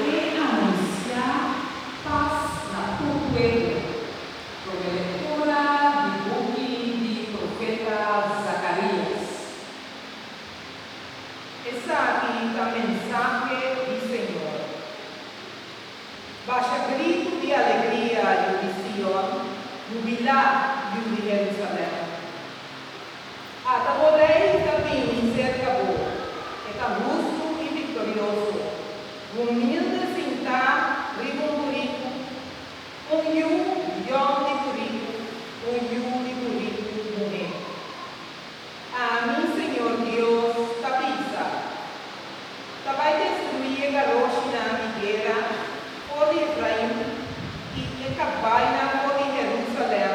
E anunsiá pas na tur pueblo, promé lektura di buki di profeta Zakarias. Esaki ta mensahe di Señor. Basha gritu di alegria, yu di Sion, jubilá, yu di Jerusalèm! Ata bo Rei ta bini serka bo, e ta hustu i viktorioso, humilde sintá riba un buritu, un yu yon di buritu, un yu di buritu muhé. Ami, Señor Dios, ta bisa, Ta bai destruí e garoshinan di guera for di Efrain i e kabainan for di Herúsalèm,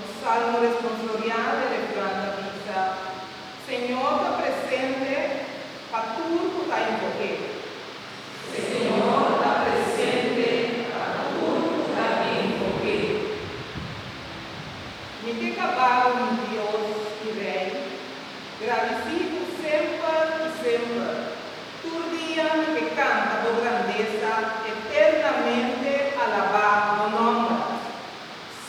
Nos salmo responsoriá den e plan ta bisa, Señor ta presente pa tur cu ta invoqu'é. Señor ta presente pa tur cu ta invoqu'é. Mi ke caba'u mi Dios i Rey, gradici Bo semper i semper. Tur dia mi ke canta Bo grandeza, eternamente alabá Bo nomber.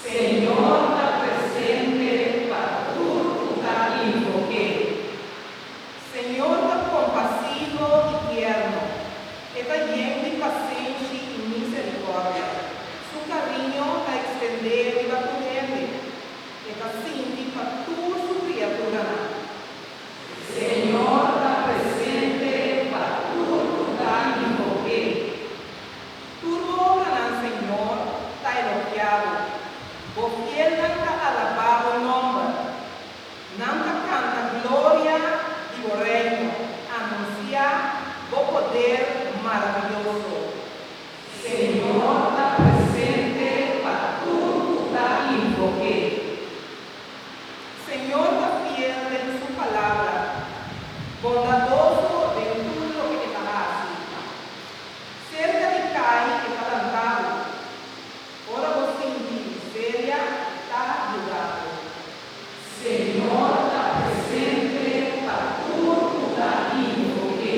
Señor ta presente pa tur cu ta invoqu'é. Señor ta compasivo y tierno, e ta yen di pacenshi y misericordia, su cariño ta extendé riba tur hende, e ta sinti pa tur su criaturanan. Señor ta presente pa tur cu ta invoqu'é. Tur nombranan Señor ta elogiabo, bo fielnan ta alabá bo nomber. Nan ta canta gloria di bo reino, anunciá bo poder maraviyoso. Señor ta presente pa tur cu ta invoc'é. Señor ta fiel den su palabra, bondadoso den tur loke e ta haci. Serka di kai e ta lantá bo. Ora bo sinti miseria, ta yuda bo. Señor ta presente pa tur kuda di bo ke.